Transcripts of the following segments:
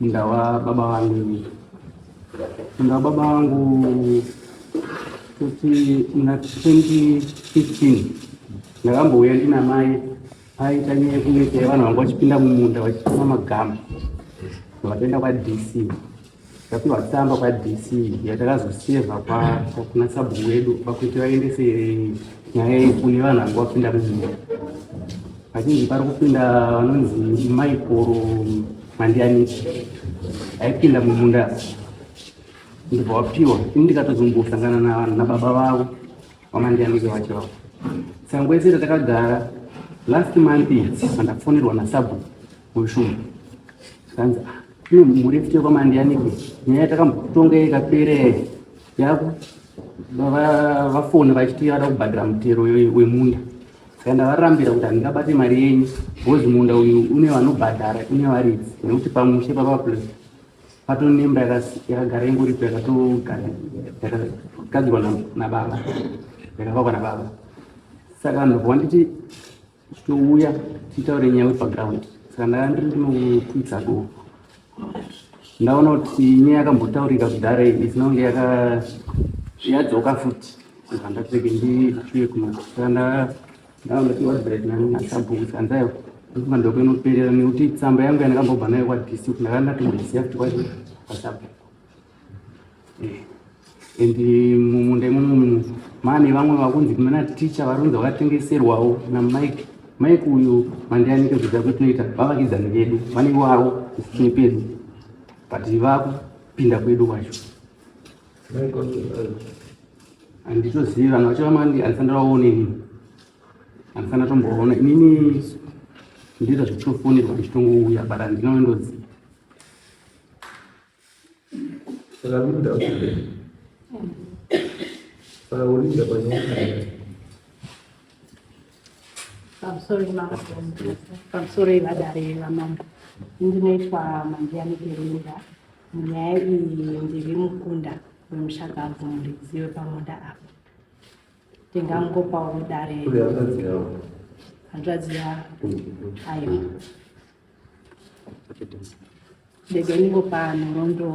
Munda wababa vangu ini. Munda wababa vangu kuti muna 2015 ndakambouya ndina mai aita nyaya yekuita yevanhu vanga vachipinda mumunda vachitoma magama vakaenda kwadc tapiwa tsamba kwadc yatakazoseva kuna sabhuku wedu pakuti vaendese nyaya iyi kune vanhu vanga vapinda mumunda Vazhinji pari kupinda vanonzi maikoro mandianiki aipinda mumunda ndibva wapiwa ini ndikatozombosangana nababa vavo vamandianiki vacho vavo sangoese ratakagara last month andafonerwa nasabu weshumu kanzi ah, kune mhuri fute kwamandianiki nyaya yatakambotonga ikapere yaku vafoni vachiti vada kubhadhira mutero wemunda saka ndavarambira kuti handingabate mari yenyu bcoz munda uyu une vanobhadhara une varidzi nekuti pamushe papaplus patonemba yakagara ingoripo yakatogara yakagadzirwa nababa yakavakwa nababa saka vanhu vakwa nditi titouya titaure nyaya wepaground saka ndandiri ndinokuitsa doo ndaona kuti ine yakambotaurika kudhara iyi isinonge yaka yadzoka futi zvandapfeke ndichuye kunoshanda ndaona kuti wadbret nasabhuku sanzayo ndikuba ndokuinoperera nekuti tsamba yangu yandakambobva nayo kwadc kundakandatomboisiya futi kwacho pasabhuku eh, and mumunda imomo muno mane vamwe vakunzi mana ticha vari kunzi vakatengeserwawo namike mike uyu mandianike zvidza kuti tinoita vavakidzani vedu vane wavo isitini pedu but vakupinda kwedu kwacho handitozivi vanhu vacho vamandi andifanira vaone inini andifanira tomboona inini ndiita zvechitofonirwa ndichitongouya but handina wendoziva Saka Linda kule. Saka ulinda panyowakaya. I'm sorry, Mama. I'm sorry, vadare vamambo. Ndinoitwa Mandiani Kelinda. Nyaya iyi ndiri mukunda wemushakabvu muridzi wepamunda apa. Ndingangopawo dare. Kule hanzvadzi yavo. Hanzvadzi yavo. Ayo. Ndege niko pano rondo.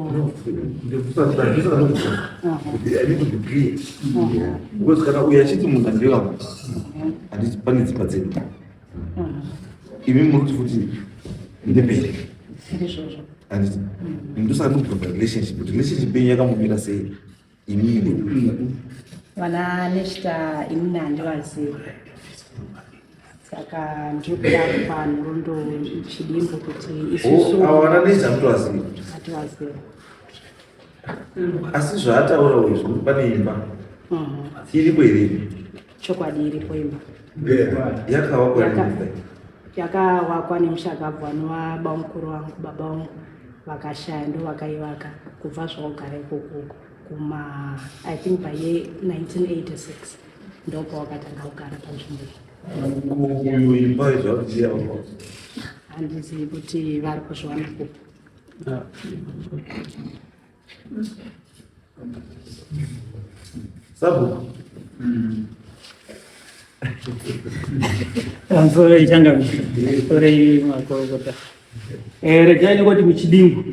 Because kana uya chiti munhu andira kuti handiti pane dzimba dzedu. Imi muri kuti futi ndembere. Ndizvozvo. Handiti. Ndosaka ndikuti relationship. Relationship yenyu yakamumira sei? vana neshita inini handivaziva saka ndiri kuda kupa nhorondo chidimbo kuti isusuativaziva asi zvaataura uyu zvinopa neimba mhm. iripo iripo chokwadi iripo imba yakawakwa nemushakabvu anova bamukuru vangu baba vangu vakashaya ndo vakaivaka kubva zvakugara ikoko kuma i think by ye 1986 ndopawakatanga kugara panzvimbo handizivi kuti vari kuzviwana kupi ah. Sabu. Mm. I'm sorry, Changa. Sorry, Makokota. Eh, regai nekuti muchidingu.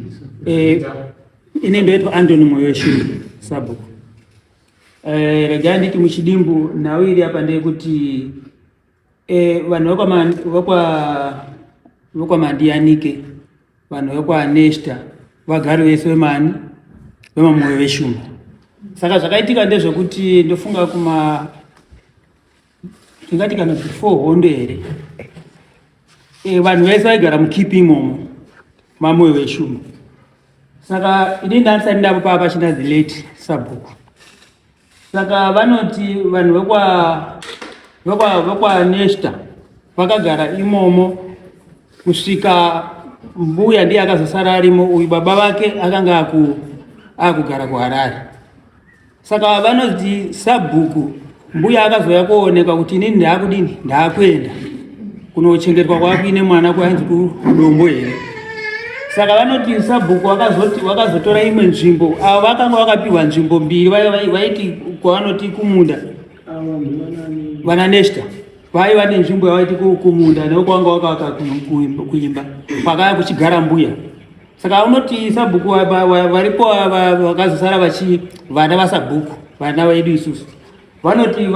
Eh, ine ndoitwa Anthony Moyoshiri, Sabu. Eh, regai nditi muchidimbu nhau iri apa ndeyekuti Eh, vanhu vekwamandiyanike vanhu vekwanesta vagari vese vemani vemamoyo veshumba saka zvakaitika ndezvekuti ndofunga kuma tingati kana before hondo here eh, vanhu vese vaigara mukipi imomo mamoyo veshumba saka ini ndanisati ndapo paa pachina the late sabhuku Saka vanoti vanhu vekwa vekwa vekwaNesta vakagara imomo kusvika mbuya ndiye akazosara arimo uyu baba vake akanga aku akugara kuHarare. Saka vanoti sabhuku mbuya akazouya kuonekwa kuti inini ndaakudini ndaakuenda Kunochengetwa kwakuine mwana kwainzi kudombo here? Saka vanoti sabhuku wakazoti wakazotora imwe nzvimbo avo vakanga vakapiwa nzvimbo mbiri vaiti kwavanoti kumunda vana neshta vai vane nzvimbo yavaiti kumunda neo kwanga wakavaka kuimba kwakaya kuchigara mbuya saka unoti sabhuku varipo vakazosara vachi vana vasabhuku vana vedu isusu Vanoti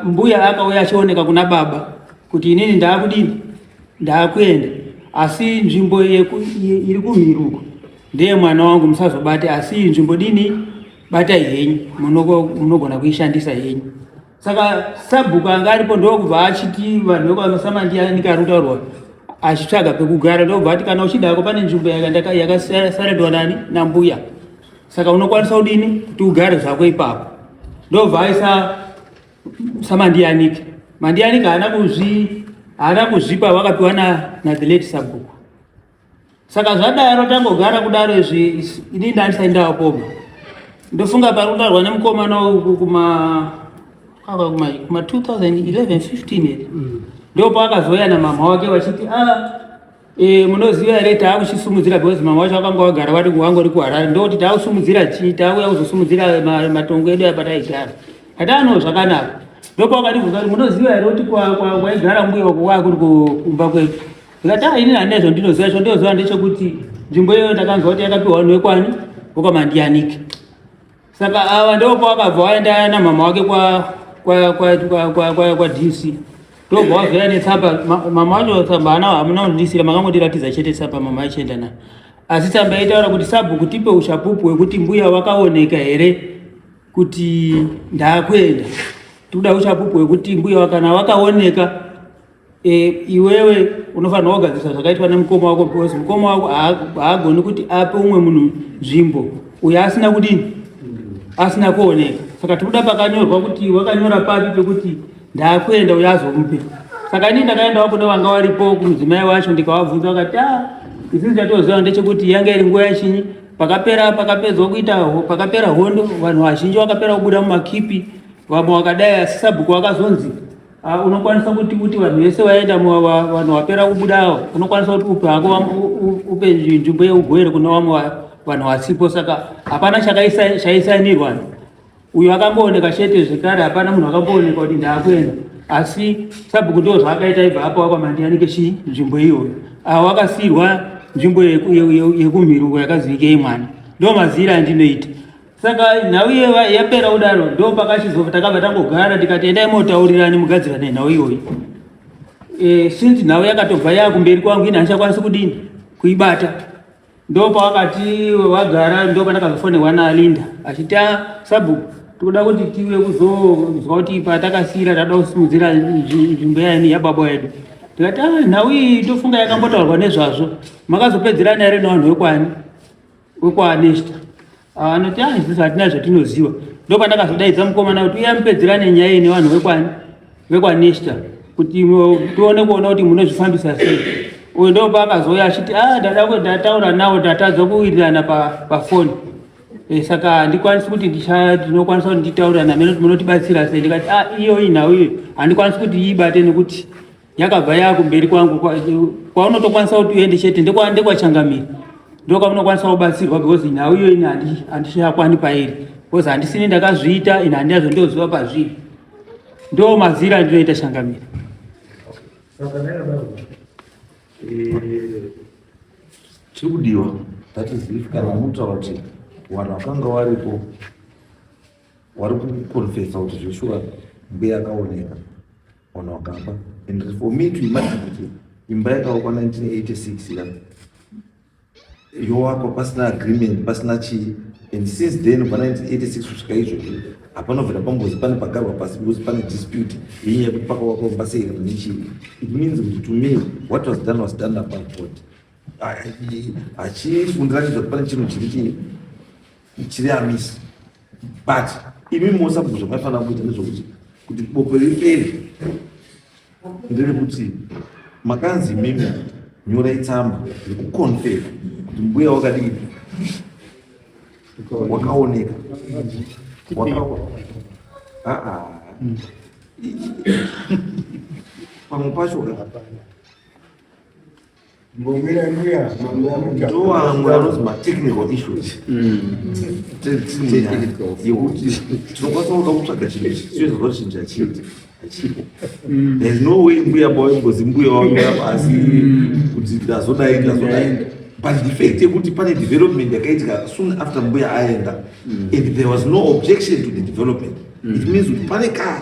mbuya akauya achioneka kuna baba kuti inini ndaakudini, ndaakuenda asi nzvimbo iri kumhiruko ndeye mwana wangu, musazobate asi nzvimbo dini batai henyu, munogona kuishandisa henyu. Saka sabhuku anga aripo ndokubva achiti vanhu vekwamasama ndiya nikarutaurwa achitsvaga pekugara ndokubva ati kana uchidako pane nzvimbo yakasaredwa nani nambuya Saka unokwanisa kudini kuti ugare zvako ipapo? Ndobva aisa samandiyanike mandiyanike haana kuzvi haana kuzvipa wakapiwa na, na the late sabhuku saka zvadaro tangogara kudaro izvi ini ndandisaindawo poma ndofunga pari kutarwa nemukomana uku kuma kuma kuma 2011 15 ere mm. ndopo akazouya namama wake vachiti ah Eh, munoziva here taakuchisimudzira because mama wacho vakanga vagara vari wangori kuharare ndokuti taakusimudzira chii taakuya kuzosimudzira matongo edu apa taigara hataano zvakanaka ndopakatibvunza kuti munoziva here kuti kwaigara mbuya wako wakuri kumba kwedu ndikati a ini handina zvandinoziva cho ndoziva ndechekuti nzvimbo iyoyo ndakanzwa kuti yakapiwa vanhu vekwani vokamandiyanike Saka ava ndobva vakabva vaenda namama wake kwadc ndobva vazoya netsamba mama wacho tsamba ana hamuna kundidisira makangotiratidza chete tsamba mama achienda na asi tsamba yaitaura kuti sabhuku tipe ushapupu hwekuti mbuya wakaoneka here kuti ndakuenda tikuda ushapupu hwekuti mbuya wakana wakaoneka E, iwewe unofanirwa kugadzirisa zvakaitwa nemukoma wako because mukoma wako haagoni kuti ape umwe munhu nzvimbo uyo asina kudini asina kuoneka saka tikuda pakanyorwa kuti wakanyora papi pekuti ndakuenda uyo azomupe saka ini ndakaendawo kune vanga varipo kumudzimai wacho ndikavabvunza vakati a ah, isini chatoziva ndechekuti yanga iri nguva yachinyi pakapera pakapedzwa kuita pakapera hondo vanhu vazhinji vakapera kubuda mumakipi vamwe vakadai asi sabhuku vakazonzi Ah, unokwanisa kuti kuti vanhu vese vaenda vanhu vapera kubuda avo unokwanisa kuti upe hako upe nzvimbo yeugwere kune vamwe vanhu vasipo saka hapana chaisainirwa uyo akambooneka chete zvekare hapana munhu akambooneka kuti ndaakuenda asi sabhuku ndo zvaakaita ibva apo wakwamandiyani chi nzvimbo iyoyo avo wakasiirwa nzvimbo yekumhirungo yakazivikei mwana ndo mazira andinoita saka nhau iyoyo yapera kudaro ndo pakachizova takabva tangogara tikati endai motaurirani mugadzirane nhau iyoyi e, since nhau yakatobva yakumberi kwangu ini handichakwanisi kudini kuibata ndo pawakati wagara ndo pandakazofonerwa nalinda achiti ah, sabhuku tikuda kuti tiwe kuzonzwa kuti patakasira tatoda kusimudzira nzvimbo yani yababa yedu tikati ah, nhau iyi tofunga yakambotaurwa nezvazvo makazopedzerana here nevanhu vekwani wekwaanesta ah, anoti ah, isusu hatina zvatinoziva ndopandakazodaidza mukomana kuti uya mupedzerane nyaya iyi nevanhu vekwanesta kuti tione kuona kuti munozvifambisa sei uyu ndopa akazouya achiti a ah, ndada kuti ndataura nawo ndatadza kuwirirana pafoni eh, saka handikwanisi kuti ndinokwanisa kuti nditaurira namene kuti munotibatsira sei ndikati a ah, iyoyi nhau iyo handikwanisi kuti iibate nekuti yakabva yava kumberi kwangu kwaunotokwanisa kuti uende chete ndekwachangamira ndo kwamunokwanisa kubatsirwa because nhau iyo ini handichakwani pairi because handisini ndakazviita ini handina zvondoziva pazviri ndo mazira andinoita changamira chiri kudiwa that is if kana unotaura kuti vanhu vakanga varipo wari kukonfesa kuti zveshuwa mbuya akaoneka Ona wakamba and for me to imagine kuti imba yakavakwa 1986 ira yovakwa pasina agreement pasina chii and since then kubva 1986 kusvika izvozvi hapana kubvira pambozi pane pagarwa pasi because pane dispute yenyaya yekuti pakavakwa kumba sei kana nechii it means kuti to me what was done was done above board hachifundiranizva kuti pane chinhu chiri chii ichiri amisi but imi mosa kuti zvamaifanira kuita nezvokuti kuti bope ripere ndiri kuti makanzi imimi nyora itsamba nekukonfera kuti mbuya wakadii wakaoneka pamwe pacho ndoamwe anonzi matechnical issues yekuti tinokwanisa kuda kutsvaga chinhu ichi tinoita zvochinja chete hachipo there's no way mbuya bavo ingozi mbuya wamira pasi kuti ndazodai ndazodai but the fact yekuti pane development yakaitika soon after mbuya aenda and there was no objection to the development it means kuti pane kaa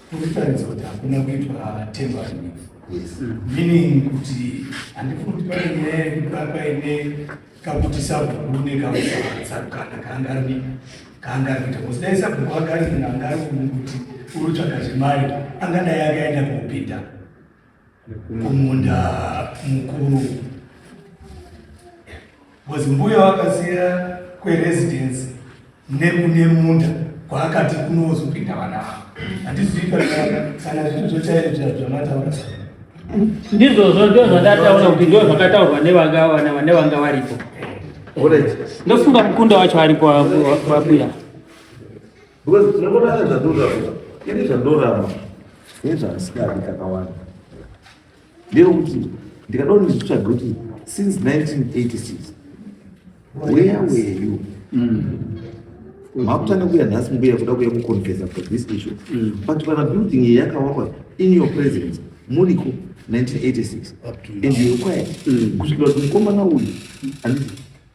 Kuritaridza kuti hakuna kuitwa temporary meaning kuti handifuni kuti pane nyaya yekuti paine kakuti sabhuku nekausaatsarukana kaanga ari kaanga ari kuita kosi dai sabhuku anga ari munhu anga ari kuti uri tsvaga zvemari angadai akaenda kuupinda kumunda mukuru bcoz mbuya vakasiya kweresidence nekune munda kwaakati kunozopinda vana vavo hatizivi kana zvinhu zvochaire zvamataura ndizvozvo ndo zvandataura kuti ndo zvakataurwa nevanga varipo ndofunga mukunda wacho aripo vabuya Because tinongoda nezvandoramba. Ini zvandoramba. Ini zvandisikadi kakawanda. Ndiro kuti ndikadao ndizvitsvaga kuti since 1986 where were you? Mm. makutanga kuya nhasi mbuya kuda kuya kuconfesa for this issue mm. but kana building iyi yakawakwa in your presence muriko 1986 and you require mm. kusvikira kuti mukomana uyu handiti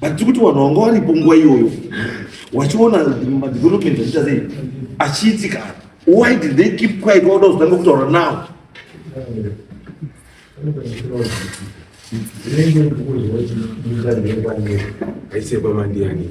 but tiri kuti vanhu vanga varipo nguva iyoyo wachiona madevelopment achiita sei achiitika why did they keep quiet wauda kuzotanga kutaura now Zvinenge ndikuziva kuti ndingange kwange aisekwa mandiyani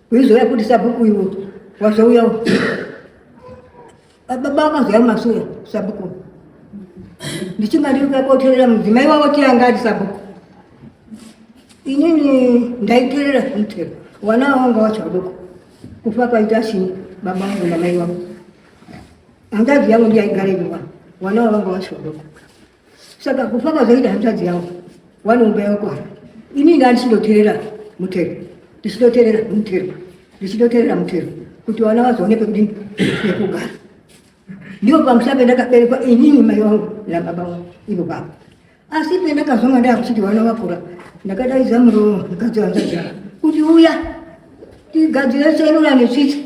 Uizouya kuti sabhuku iwe wazouya baba wakazoya masura sabhuku ndichinga ndiri kuya koterera mudzimai wavo tianga ati sabhuku inini ndaiterera zvinotera wana wanga wacho vadoko kufa kwaita asini baba vangu namai vangu handazi yangu ndiyaigara iviwa wana wavanga wacho vadoko saka kufa kwazoita hanzvadzi yavo wanomba yakwara ini inga ndichidoterera mutero ndichidoterera mutero ndichidoterera mutero kuti vana vazoone pekuti pekugara ndiwo pamusha pendakaberekwa inini mai wangu nababa wangu ivo baba asi pendakazonga ndakuchiti vana vakura ndakadaidza muromo mukadzi wanzvadzi kuti uya tigadzire serura netsvitsi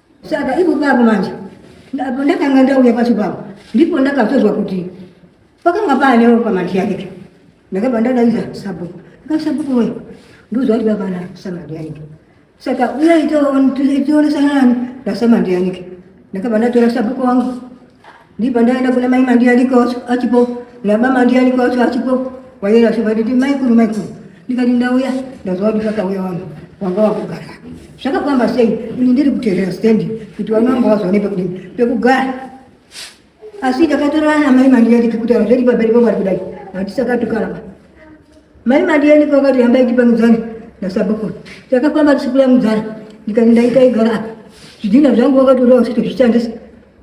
Saka ipo papo manje ndapo ndakanga ndauya pacho papo ndipo ndakatozwa kuti pakanga paane ropa manje yake ndakabva ndadaiza sabhuku ndikasabhuku we ndozwa kuti vapana samandi yanike saka uya itoonesa nani ndasamandi yanike ndakabva ndatora sabhuku wangu Ndipo ndaenda kuna mai Mandiani kwacho achipo nababa Mandiani kwacho achipo wayera shuva nditi maikuru maikuru ndikati ndauya ndaziva kuti kakauya vanhu wanga wakugara zvakafamba sei ini ndiri kuteerera stendi kuti vana vanga vazoone pekudini pekugara asi ndakatorana namai Mandiani kekutaura zvedi pamberi pamwari kudai handisakatukaraba mai Mandiani kwakati hambai tipangudzane nasabukuru takafamba tisikulangudzana ndikati ndaita igara apa zvidhina zvangu wakatorewa sito zvichandisa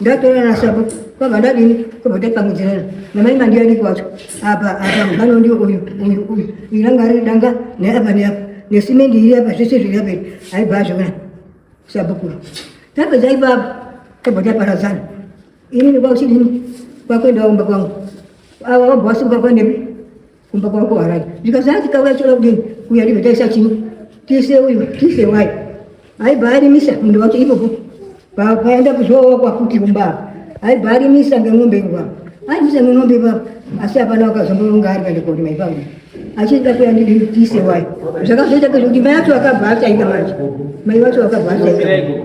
ndatora nasabo kwabva ndadini kwabva tapangudzirana namai mandiyani kwacho apa apa mubano ndio uyu uyu uyu uyu ranga ari danga neapa neapa nesimendi iri apa zvese zviri apa iri aibva azviona sabukuru tapedza ipapo tabva taparadzana inini kwakuchidini kwakuenda kumba kwangu ava wabva wasuka kwandepi kumba kwako haraji zvikazati kauya choda kudini kuya ndibva taisa chino tise uyu tise wai aibva arimisa munda wacho ipopo paenda kuzoowa kwafuti kumba aibva arimisa ngemombe ipapo arimisa ngemombe ipapo asi hapana wakazomboronga ari kaenda korima ipapo achida kuya ndidi tise wai zvakazoita kuti mai wacho akabva achaita manje mai wacho akabva achaita eh.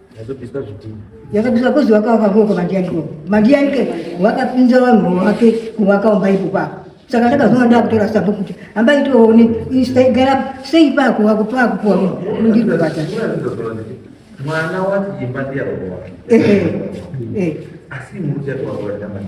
Yakabisa zvidhina. Yakabisa kozi wakavaka koko mandiyanike. Mandiyanike wakapinza vanhu vake kuvakaomba ipo pako. Saka ndakazoona ndakutora sambo kuti hamba itoone gara sei pako wakupa kupuwa ndiko bata. Mwana wati imba ndiyarowa. Eh eh. Asi muruja kwa kwa ndamani.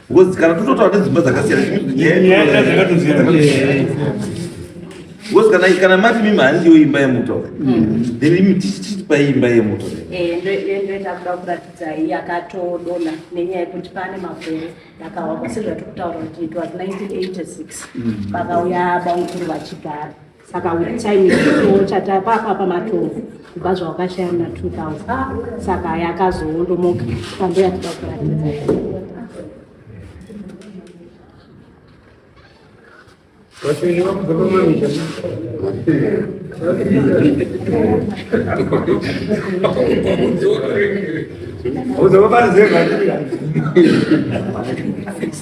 Because kana tototaura nedzimba dzakasiyana because kana kana mati mimi handiyo imba yemuto then imi tichitipa imba yemuto ndoenda kuda kuratidza iyi akatodona nenyaya yekuti pane makore ndakawa kwasezvatiri kutaura kuti it was 1986 pakauya baukuru vachigara saka with time ichitoo chatapapa pamatombo kubva zvawakashaya muna 2000 saka yakazoondomoka pambo yatida kuratidza Uzoba pari zero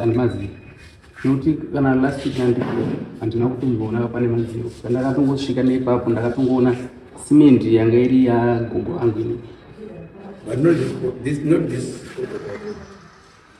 andimazivi nekuti kana last week andiko handina kutomboona pane mazivo ndakatongosvika neipapo ndakatongoona simendi yanga iri yagogo angu ini but not this, not this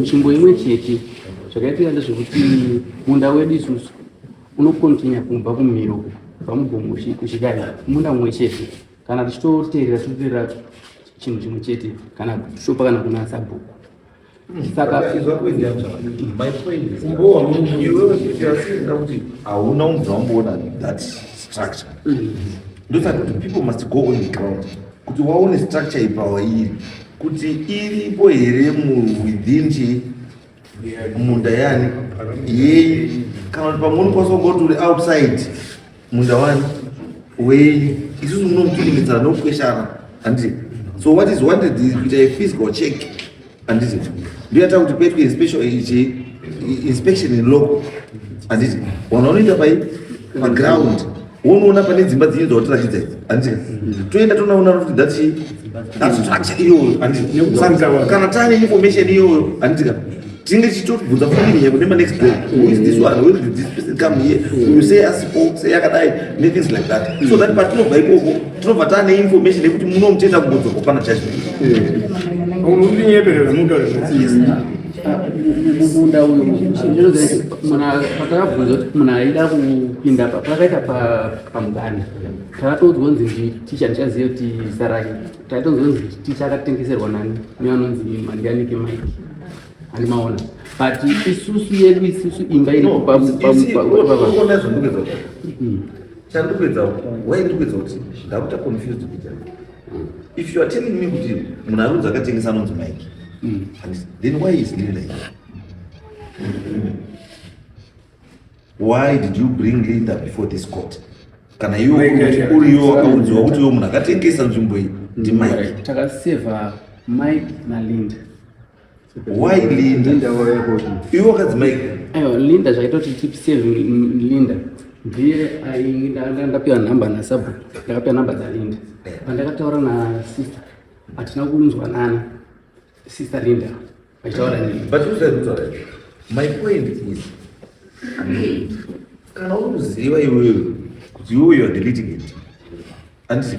Nzvimbo imwe chete zvakaitika ndezvekuti munda wedu isusu unokontinya kumba kumiro pamugomo kuchidai munda mumwe chete kana tichitoteerera tichitoteerera chinhu chimwe chete kana shopa kana kuna sabhuku hauna umbwa wamboona that structure mm. ndosaka kuti people must go on the ground kuti waone structure yepower iri kuti iripo here within chi munda yani yei kana kuti pamwe unokwanisa kungoti uri outside munda wani wenyu isusu munomutulimitsana nokukweshana handiti so what is wanted is kuita a physical check Anditi ndiyata kuti paitwe inspection ichi inspection in local. Anditi wanhu wanoita pai pa ground wonoona pane dzimba dzinyi dzawatiratidza idzi andika toenda tonaona kuti ndati that's structure iyoyo andika kana tane information iyoyo andika tinenge tichitobvunza family here kune manext day who is this one where did this person come here you say asipo say yakadai ne things like that so that patinobva ikoko tinobva taane information yekuti muno muchienda kungodzorwa pana judgment unondinyeperera mutaure zvasiyisa munda uyu patakabvunza kuti munhu aida kupinda pa pakaita pamudana takatoudzwa kunzi ndi ticha ndichaziva kuti sarake takatoudzwa kunzi ticha akatengeserwa nani nevanonzi mandianike mike Animaona. But isusu yedu isusu imba iri pa pa chandikuedza why ndikuedza kuti ndakuta confused kuita mm. if you are telling me kuti munhu arudzi akatengesa anonzi mike mm. and then why is lily like why did you bring linda before this court kana iwo uriyo wakaudziwa kuti iwo munhu akatengesa nzvimbo iyi ndi mm. mike takaseva mike nalinda why linda linda waya kuti iwe wakadzimai ayo linda zvaitoti tip save linda ndiye ndapiwa nhamba nasabu ndakapiwa nhamba dzalinda pandakataura eh. na sister hatina kunzwanana sister linda vachitaura nini but uzaitaura my point is kana uri kuziva iwewe kuti iwe you are deleting it andisi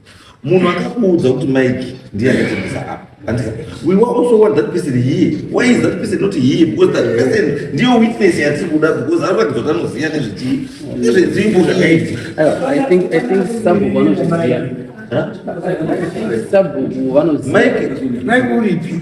munhu akakuudza kuti mike ndiye akatengesa apa andika we were also want that person here why is that person not here because that person ndiyo witness yatiri kuda because anoratidza kuti anoziva nezvechii nezvenzvimbo zvakaitika i think i think sabu vanozviziva sabu vanoziva mike mike uripi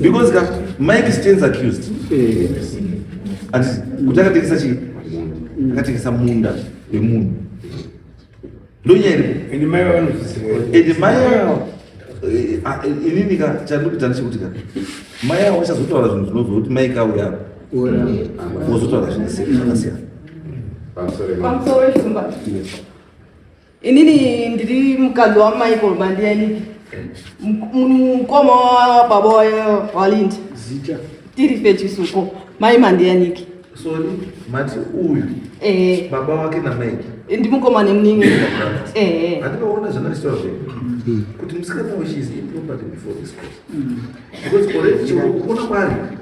because ka mike stands accused and kuti akatengesa chii akatengesa munda wemunhu ndonyaya iripo and mai and mai eh, ah, eh, inini ka chandikuita ndechekuti ka mai avo vachazotaura zvinhu zvinobva kuti mai kauya vozotaura zvakasiyana pamusoro weshumba Inini ndiri mukadzi waMichael Mandiyaniki, mukoma wababa waLindi. Zita tiri pechisuko mai Mandiyaniki. Sorry, mati uyu eh, baba wake naMike eh, ndimukoma nemuningi eh, eh. andinoona zvanaistoa zve kuti musikana weshe is improperty before this course because already chikuona kwari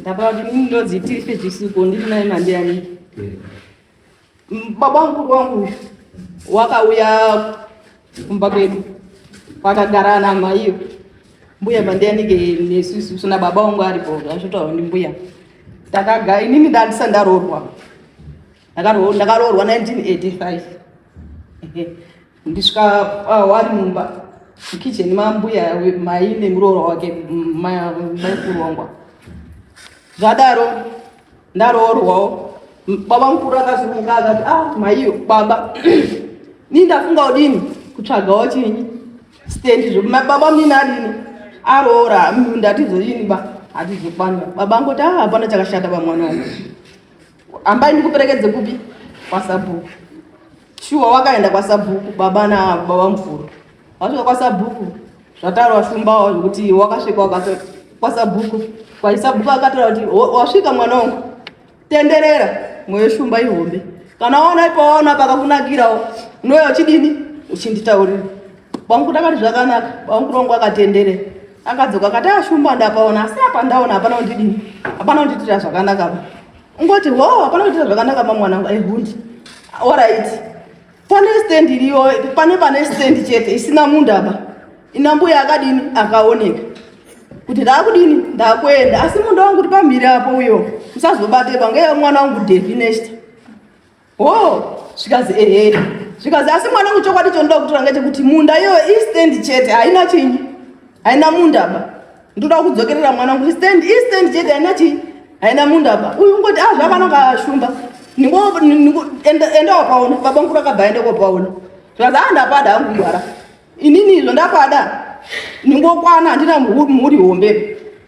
ndabaa kuti mimi ndonzi tirife chisuko ndiri naye mandiyani baba mukuru wangu wakauya kumba kwedu kwakagara ana maiyo mbuya mandiyanike nesusu sona baba wangu aripo zvasvotaura ndi mbuya takaga inini ndandisa ndaroorwa ndakaroorwa 1985 ndisvika wari mumba mukicheni mambuya mai nemuroora wake maikurongwa zvadaro ndaroorwawo baba mukuru akazunguka akati a ah, maiyo baba ni ndafunga udini kutsvagawo chinyi stendi zvo baba mnini adini aroora ndatizoyini ba hatizokwanira baba ngoti a ah, hapana chakashata pamwana wangu Ambai ndikuperekedze kupi? Kwasabhuku. Shuwa wakaenda kwasabhuku baba na baba mvuru. Wasvika kwasabhuku zvataurwa shumbawo zvekuti wakasvika wakati kwasabhuku kwaisabhuku akataura kuti "Wa- wasvika mwana wangu tenderera mweyo shumba ihombe kana waona ipawaona pakakunakirawo unouya uchidini uchinditaurira Bwangu ndakati zvakanaka, bwangu rongo akatendere. Akadzoka akati ashumba ah, ndapaona asi apa ndaona hapana kundidini. Hapana kunditira zvakanaka. Ungoti ho hapana kunditira zvakanaka mamwana wangu aihundi. Eh, All right. Pane stand iriyo, pane pane stand chete isina munhu apa. Ina mbuya akadini akaoneka. Kuti ndakudini ndakuenda asi munhu wangu kuti pamhiri apo uyo. Usazobate banga mwana wangu Devinest. Oh, zvikazi ehe. Zvikazi asi mwana kuchokwadi chondoda kutora ngechekuti munda iyoyo istand chete haina chinyi. Haina munda ba. Ndoda kudzokerera mwana kuti stand istand chete haina chinyi. Haina munda ba. Uyu ngoti ah zvavana kashumba. Ningo ningo enda enda wapaona baba nkura kabva enda kwapaona. Zvikazi ah ndapada hangu mwana. Inini izvo ndapada. Ningokwana handina mhuri hombe.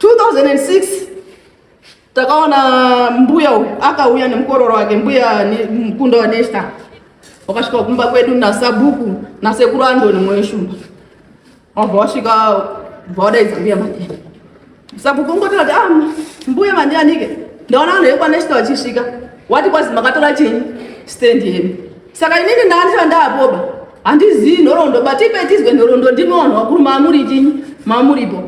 2006 takaona mbuya uyu akauya nemukororo wake mbuya mukunda wanesta wakasvika kumba kwedu nasabhuku nasekuru andoni mwoyo shumba wabva wasvika bva wadaidza mbuya mandiani sabhuku ungotira kuti ah, mbuya mandianike ndaona vanhu vekwanesta vachisvika wati kwazi makatora chinyi stand yenu saka inini ndaandisa ndaapoba handizivi nhoroondo but ipe tizwe nhoroondo ndimi vanhu vakuru maamuri chinyi maamuripo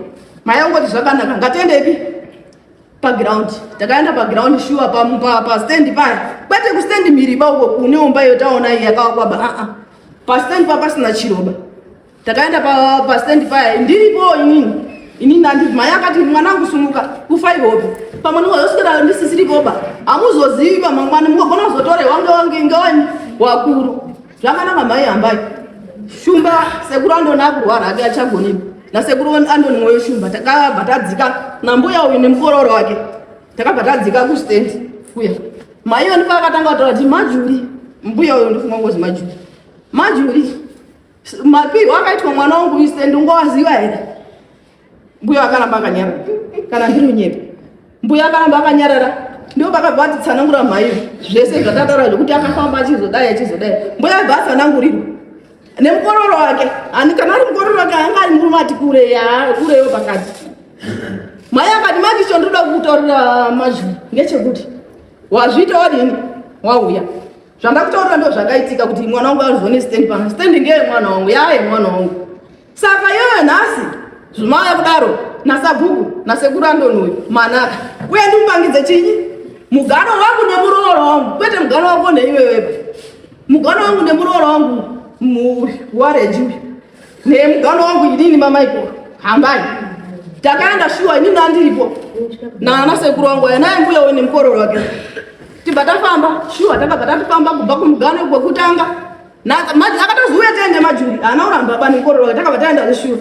Maya ungoti zvakanaka ngatiendepi paground takaenda paground shuwa pastendi paya kwete kustendi miriba uko kune umba iyo taona iyi yakavakwaba aa ah, ah. pastendi pa pasina chiroba takaenda pastendi paya ndiripo inini inini andii maya akati mwana angu sumuka kufa ihope pamwe ndingazoswera ndisisiripoba hamuzozivi pamangwana mukagona kuzotorewa ngewange ngewani wakuru Zvakanaka mai ambai. Shumba sekuru andona kurwara hake achagoni. Na sekuru andoni moyo shumba takabva tadzika na mbuya uyu nemukororo wake. Takabva tadzika ku stand kuya. Mai vanhu vakatanga kutaura kuti majuri mbuya uyu ndofunga ngozi majuri. Majuri mapirwa akaitwa mwana wangu stand ungowaziva here? Mbuya akaramba akanyarara. Kana ndiri unyepe. Mbuya akaramba akanyarara. Ndio vakabva ati tsanangura mhai zvese zvatataura zvekuti akafamba achizodai achizodai. Mbuya bva atsanangurirwa. Nemukororo wake. Ani kana ari mukororo wake anga ari murume ati kure ya kure yo pakati. Mhai akati manje chondoda kutaurira mazvi ngechekuti wazviita wadini wauya zvandakutaurira ndo zvakaitika kuti mwana wangu azone stand pano stand ngeye mwana wangu yaye mwana wangu Saka iyoyo nhasi zvimauya kudaro nasagugu nasekuru andoni uyu manaka uye ndimupangidze chinyi mugano wangu nemuroora wangu kwete mugano wako neiweweba mugano wangu nemuroora wangu wareji uyu nemugano wangu inini mamaiko hambai takaenda shuwa inini andiripo nana sekuru wangu aya naye mbuya uyu nemukororo wake tibva tafamba shuwa takabva tatofamba kubva kumugano kwekutanga akatozouya taende majuri haana uramba apa nekororo takabva taenda zvishuru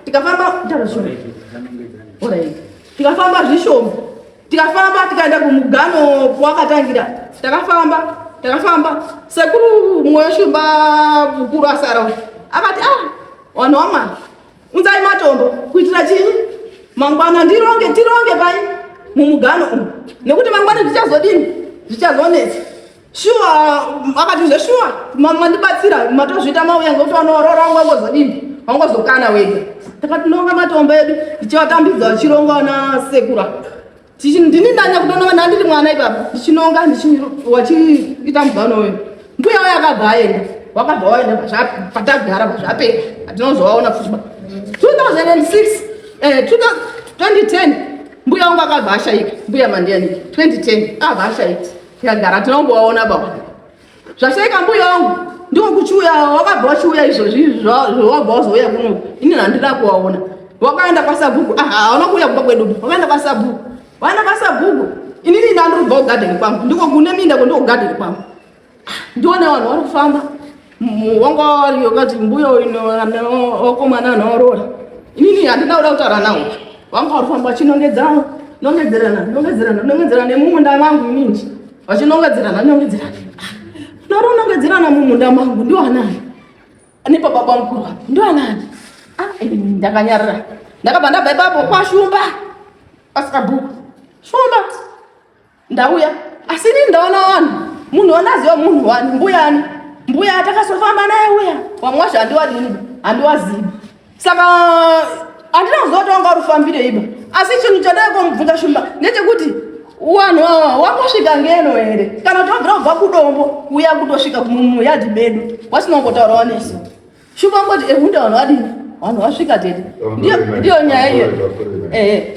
tikafamba tarazvishuru tikafamba zvishoma tikafamba tikaenda kumugano kwakatangira takafamba takafamba sekuru mumwe weshumba mukuru asara akati a ah, vanhu wamwari unzai matombo kuitira chinyi mangwana ndironge tironge pai mumugano umu nekuti mangwana zvichazodini zvichazonetsa shuwa akati zveshuwa mandibatsira matozviita mauya ngokuti wanoorora wanga ungozodini wanga uzokana wega takatinonga matomba edu ndichivatambidza vachirongwa na sekura ndini ndanya kutononga ndandiri mwana ipapo ndichinonga wachiita mugano uyu mbuya uyo akabva aenda wakabva waenda patagara pazvapera atinozovaona futi 2006 eh, 2010 mbuya wangu akabva ashaika mbuya mandiyaniki 2010 akabva ashaika Yagara tinongowaona baba. Zvaseka mbuya wangu ndiwo kuchiuya wakabva wachiuya izvozvi zvawabva wazouya kuno ini handina kuwaona wakaenda kwasabhuku ah, hauna kuuya kumba kwedu wakaenda kwasabhuku waenda kwasabhuku inini ndandiri kubva kugadheni kwangu ndiko kune minda ko ndiko kugadheni kwangu ah, ndione vanhu vari kufamba Muongori wakati mbuya oko mwana anoorora. Inini handina kuda kutaura nawo. Vanga vari kufamba vachinongedzana, nongedzerana, nongedzerana, nongedzerana nemumunda mangu inini. Vachinongedzerana, nongedzerana. Naro nongedzerana mumunda mangu ndiwo anani? Ane baba bamukuru apo ndiwo anani? Ah, ndakanyarara. Ndakabva ndabva ipapo kwashumba. Pasika bhuku. Shumba. Ndauya asi ini ndaona vanhu munhu wanaziva munhu wani mbuyani mbuya atakasofamba naye uya wamwe wacho handiwadini handiwazivi saka handina kuziva kuti wanga urifambire iba asi chinhu chandaikomubvunza shumba ndechekuti wanhu wawa wakosvika ngeno here kana kuti wabvira kubva kudombo kuya kutosvika mumuyadhi medu wasina kumbotaura wanesu shumba ngoti ehunda vanhu vadini vanhu vasvika tete ndiyo nyaya iyo ehe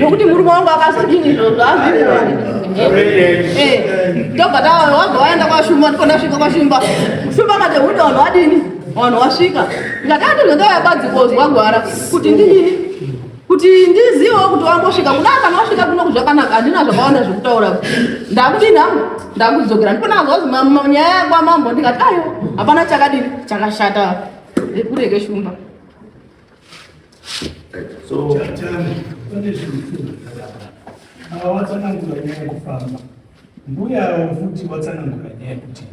nokuti murume wangu akazodini izvozvo azviitobva eh, tawa wabva waenda kwashumba ndipo ndasvika kwashumba shumba kati huda vanhu vadini vanhu wasvika ndakatozotauya badzi kozwa gwara kuti ndinini kuti ndizivewo kuti wambosvika kuda kana wasvika kuno kuzvakanaka handina zvakawanda zvekutaura ndakudini hangu ndakudzokera ndipo ndakazwazi nyaya yakwamambo ndikati ayo hapana chakadini chakashata rekureke shumba So, ava vatsanangura nyaya yekufamba mbuya avo futi vatsanangura nyaya yekuti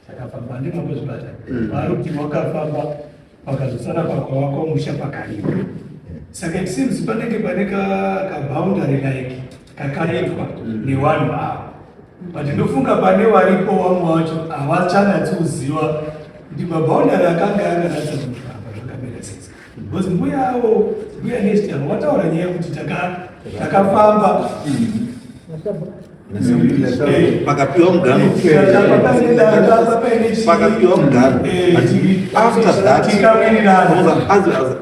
takafamba ndimwe kwezvipatara vari kuti wakafamba pakazosara pakwawakwa musha pakarima saka it seems panenge pane kaboundary like kakaitwa newanhu ava but ndofunga pane varipo vamwe vacho havachanatsi kuziva kuti maboundary akanga anganatsa kutamba zvakamira sei because mbuya avo mbuya nesti avo vataura nyaya yekuti takafamba pakapiwa mugano pakapiwa mugano after that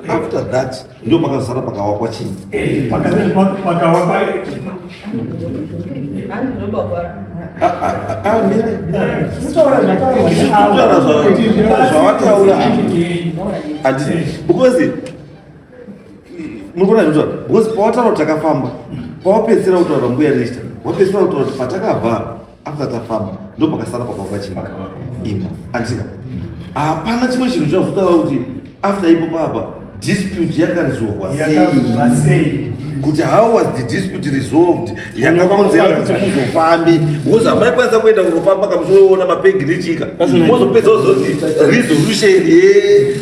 after that Ndio pakazara pakawakwa chini? Eh, pakawakwa zvavataura because murikuona zvinotaura because pawataura kuti takafamba pawapedzisira kutaura mbuya nesta wapedzisira kutaura kuti patakavhara after tafamba ndopakasara pakwa pachimaka imba andika hapana chimwe chinhu chazotava kuti after ipo papa dispute yakanzorwa sei kuti how was the dispute resolved yanga vaunzera kuti muzofambi wozi hamaikwanisa kuenda kunofamba kamusoona mapegi nechika mozopedza wozoti resolution ye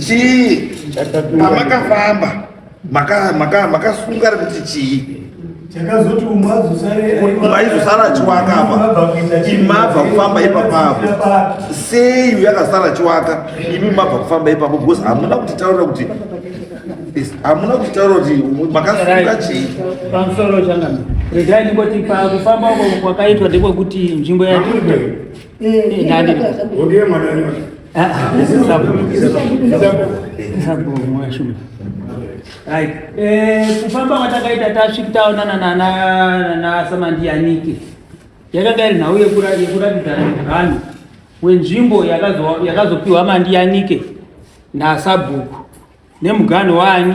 chii pamakafamba maka maka makasunga kuti chii chakazoti umwe aizosara chiwaka apa imi mabva kufamba ipapa apo sei uyu akasara chiwaka imi mabva kufamba ipapo because hamuna kutitaurira kuti hamuna kutitaurira kuti makasunga chii pamusoro changana regai ndingoti pakufamba uko kwakaitwa ndekwekuti nzvimbo yaoke mwana Eh, kufamba kwatakaita tasvika taonana nana samandiyanike yakanga iri nhau yekuratidzana nevanhu wenzvimbo yakazopiwa mandiyanike nasabhuku nemuganho waani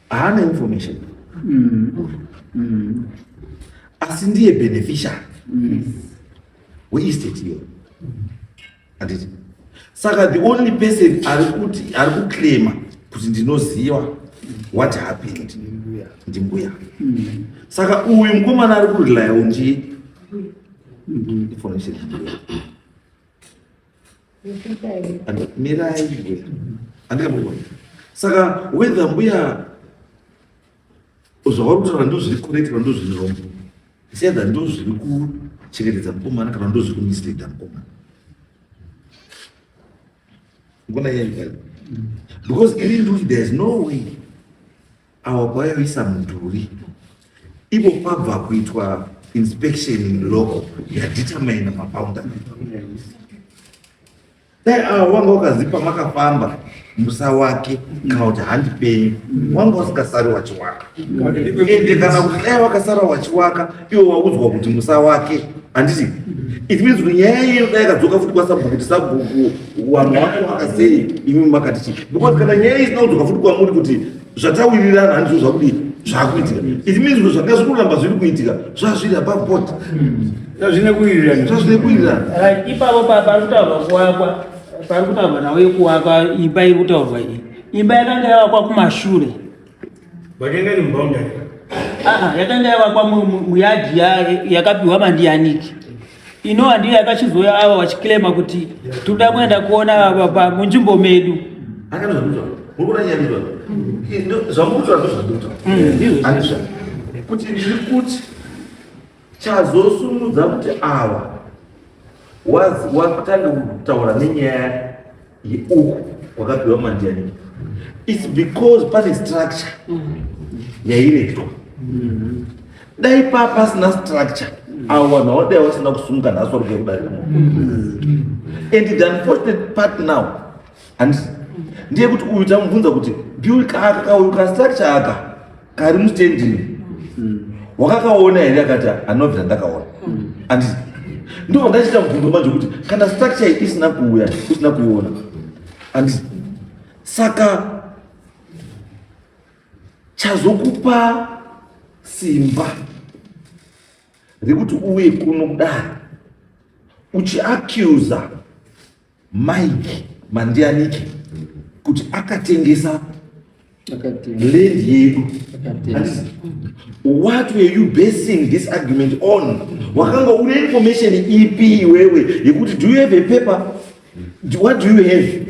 haana information mm. Mm. asi ndiye beneficiary mm. weestate iyoyo handiti saka the only person ari kuti ari kuclaima kuti ndinoziva what happened ndimbuya mm. saka uyu mukomana ari kurelaya unji information mirai andikamuona saka whether mbuya zvavari kutaura ndo zviri correct kana ndo zviri wrong it's either ndo zviri kuchengetedza mukomana kana ndo zviri kumisleada mukomana ngona yaiaa because ini nduti there is no way awa kwayoisa mudhuri ivo kwabva kuitwa inspection in local yadetermine maboundary dai awa wanga wakazipa makafamba musa wake kana kuti handi penyu wanga usikasari wachiwaka ende kana kuti dai wakasara wachiwaka iwe waudzwa kuti musa wake handiti it means kuti nyaya iyeyo dai yakadzoka futi kwasabhuku kuti sabhuku wanhu wako wakasei imi makati chii because kana nyaya isina kudzoka futi kwamuri kuti zvatawirirana handizvo zvakudii zvakuitika it means kuti zvanga zvikuramba zviri kuitika zvazviri above board zvazvine kuwirirana zvazvine kuwirirana ipapo pari kutaurwa kuwakwa pari kutaurwa nawo yekuwakwa imba iri kutaurwa iyi imba yakanga yavakwa kumashure Watenga ni boundary. Ah, ah yatanga yavakwa muyadhi yakapiwa mandiyaniki ino handiyo yakachizouya ava vachiclaima kuti toda kuenda kuona baba munzvimbo medu kuti ndiri kuti chazosumudza kuti awa watange kutaura nenyaya uku kwakapiwa mandiani its because pane structure yairetwa dai paa pasina structure avo vanhu hawadai vasina kusumuka nhasi vari kuya kudarika mo and the unfortunate part now handisi ndeyekuti uyu tamubvunza kuti biuri kaaka kauyu kastructure aka kari mustendini mm. wakakaona here akati anobvira ndakaona mm. and ndobva ndachita mubvunzo manje kuti kana structure isina kuuya usina kuiona and saka chazokupa simba rekuti uye kuno kudai uchiacusa Mike Mandianike kuti akatengesa land yedu what were you basing this argument on wakanga une information ipi iwewe yekuti do you have a paper what do you have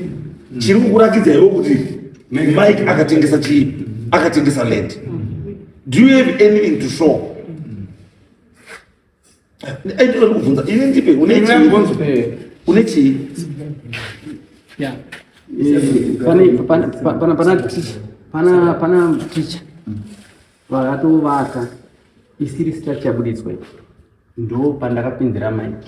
chiri kukurakidza iwe kuti mike akatengesa chii akatengesa land do you have anything to show Aitira kuvhunza ini ndipe une une chii? Yeah. Pane pana pana pana teacher. Pana pana teacher. Vakatovaka isiri structure buditswe. Ndo pandakapindira mike.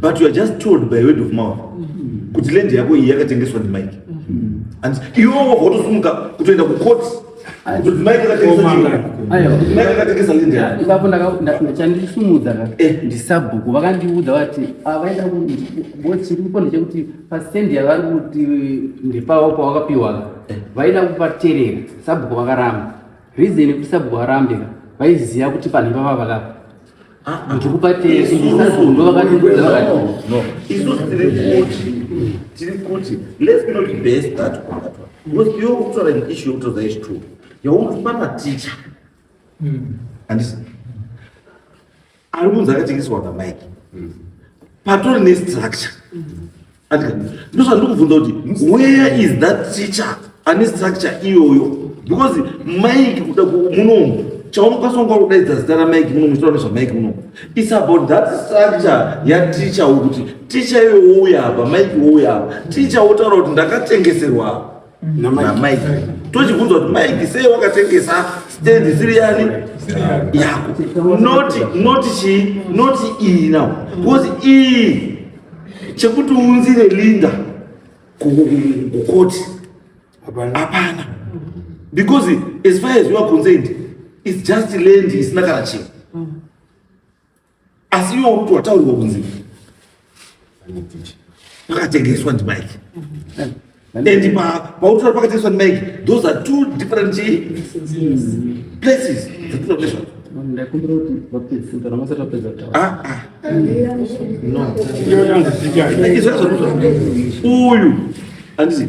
but you are just told by word of mouth mm-hmm. kuti land yako iyi yakatengeswa ndimike mm-hmm. and iwo wabva watosumuka kutoenda kucourt ndakandisumudza eh. ndisabhuku vakandiudza vati avaenda ah, chiripo ndechekuti pasendi yavari kuti ndepavo pawakapiwa eh. vaida kupaterera sabhuku vakaramba reason yekuti sabhuku varambika vaiziva kuti panhu ipapa vakapa isusu tiri kuti tiri kuti let's not base that on that one because iwe ukutaura an issue yokutaura is true yaunofana maticha handisi ari kunzi akatengeswa pamike patori nestructure ndozvandiri kubvunza kuti where is that teacher ane structure iyoyo because mike kuda munomu chaunokwanisa kunge wakudaidza zita ramike muno muchitaura nezvamike muno its about that structure yateacher wokuti teacher iyoyo wouya apa mike wouya apa teacher wotaura kuti ndakatengeserwa apa namaiki tochibvunza kuti maiki sei wakatengesa stendi siri yani yako noti noti chii noti iyi now because iyi chekuti unzire linda kukoti hapana because as far as you are concerned it's just land isina kana chii asi iwe uri wataurirwa kunzi pakatengeswa ndimike and pautora pakatengeswa ndimike those are two different places dzatinoda kune zvako ndakumbira kuti vapedzisa kana vasati vapedza kutaura izvozvo uyu handizi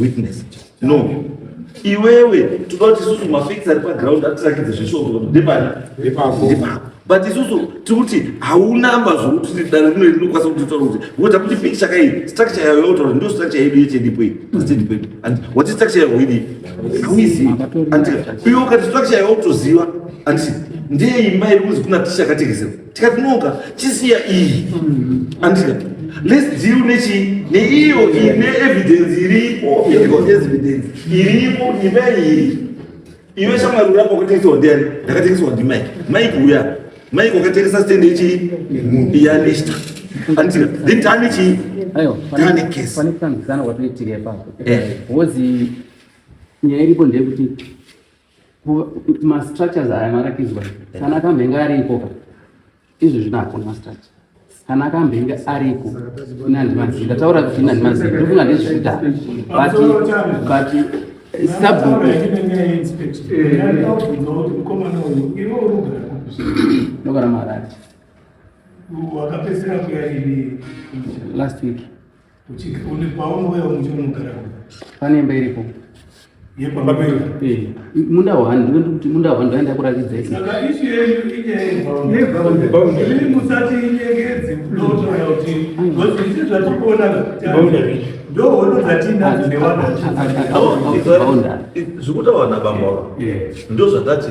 witness no iwewe toda kuti isusu mafacts ari paground atirakidze zveshoko ndepani ndepako but isusu tiri kuti haunamba zvokuti dare rino rinokwanisa kuti taura kuti ngoda kuti piki chakai structure yayo yotaura ndo structure yedu yechendipo iyi chendipo iyi and wati structure yayo idi hauizivi and iwe ukati structure yayo utoziva anditi ndeimba iri kunzi kuna ticha katekesera tikatinoka chisiya iyi andika let's deal nechi neiyo ine evidence iripo medical evidence iripo nyimba iyi iwe shamwari urapa wakatengeswa ndiani ndakatengeswa ndimike mike uya mike wakatengesa stand ichi yanista andika then tani chi ayo tani case pane kutambisana kwatoitire ipapo eh. wozi nyaya iripo ndeyekuti mastructures aya marakidzwa kana akamhenga ari ikoka izvi zvino hakuna mastructure kana akamhenga ariko inandimazivi ndataura kuti inandimazivi ndofunga ndezvikuda but but sabhuku ndogara marari wakapedzisira kuya ini last week pane imba iripo munda wani ndinoda kuti munda wani ndaenda kuratidza zvekutaura nabambawa ndozvatati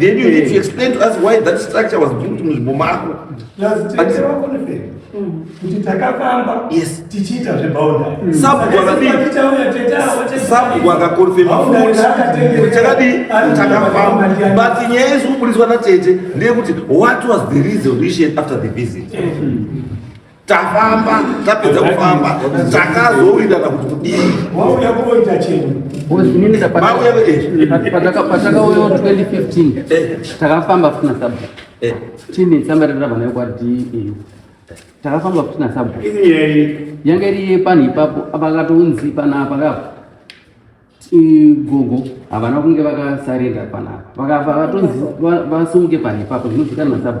Then you need to explain to us why that structure was built muzvimbo mako. kuti takafamba tichiita zveboundary sabhuku akakonfema futi chakadii takafamba but nyaya iri kuburitswa natete ndeyekuti what was the resolution after the visit mm. tafamba tapedza kufamba takazowinda na kuti kudii wauya kuoita chenu patakauyo 2015 takafamba kusina sabu eh. tine tsamba rerava nayo kwa deu takafamba kusina sabu yanga iri yepanhu ipapo apakatounzi panapa kapo gogo havana kunge vakasarenda panapa vakavatonzi vasumuke panhu ipapo zvinozikana na sabu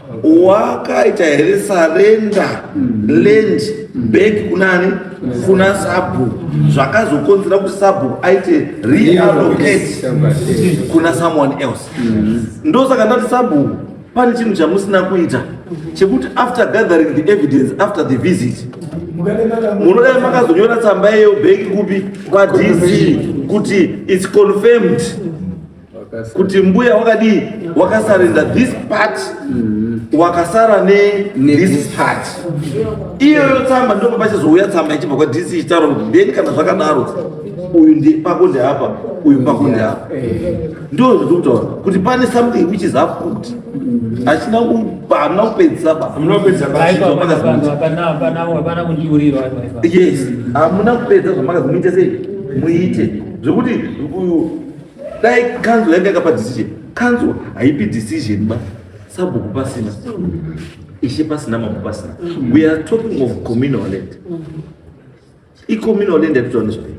wakaita here sarenda land back kunani kuna sabhuku zvakazokonzera kuti sabhuku aite realocate kuna someone else ndosaka ndati sabhuku pane chinhu chamusina kuita chekuti after gathering the evidence after the visit munodai makazonyora tsamba yeyo bheki kupi kwadc kuti its confirmed kuti mbuya wakadii wakasarenda this part mm. wakasara ne this part iyoyo tsamba ndipo pachizouya tsamba ichibva kwa dc ichitaura kuti ndeni kana zvakadaro uyu ndi pako ndeapa uyu pako ndeapa ndo zviri kutaura kuti pane something which is afoot hachina hamuna kupedzisa basyes hamuna kupedza zvamakazimuita sei muite zvekuti dai kanzwa yanga yakapa decision kanzwa haipi decision ba sabhuku pasina ishe pasina mambo pasina we are talking of communal land icommunal land yatitaura nezvayo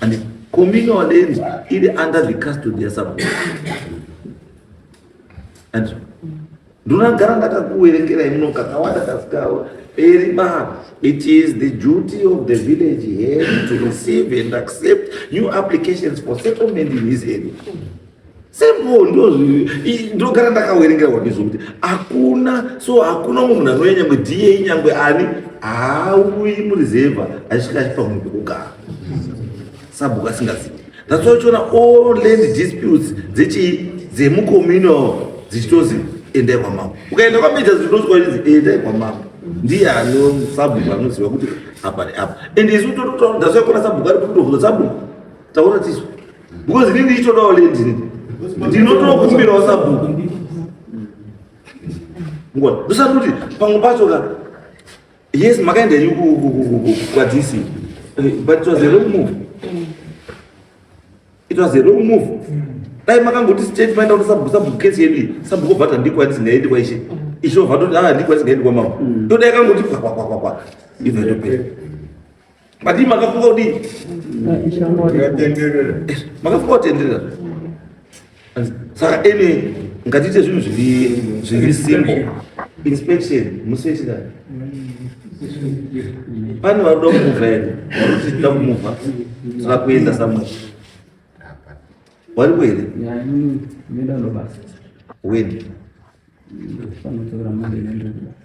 and communal land iri under the custody yasabhuku and Ndinogara ndakakuverengerai muno kakawanda kasikawo peri baba. It is the duty of the village here to receive and accept new applications for settlement in his area. Simple ndozvi ndogara ndakaverengera kwandiri zvokuti hakuna so hakuna umwe munhu anouya nyangwe DA nyangwe ani haauyi murizevha achisvika achipa munhu pekugara. sabhuku asingazivi that's why uchiona all land disputes dzechii dzemucommunal dzichitozi endai kwamambo ukaenda kwamija zvinozwa inzi endai kwamambo ndiye ano sabhuku anoziva kuti apa neapa and isu totodasaikona sabhuku ari kutovhura sabhuku taura tisu because ini ndichitodawo land ini ndinotokumbirawo sabhuku ngona ndosati kuti pamwe pacho ka Yes, makaenda you kwadzisi. Eh, but it was a wrong move. Mm. It was a wrong move. Mm. Dai makangoti state maenda kuti sabhusa bukesi yedu sabhuko bhata ndiko yatisingaendi kwaishe. Mm. Isho bhata kuti ah ndiko yatisingaendi kwamama. Ndoda yakangoti kwa kwa kwa kwa. Even to pay. Madii makafunga kudii? Makafunga kutenderera. Saka ene ngatiite zvinhu zviri zviri simple. Inspection musoitira. Pane varuda kumuvha ere? Varuti tida kumuvha. Tira kuenda somewhere. Wari kuende? Nenda ndo basa. When? Ndofana kutora mali nenda ndo basa.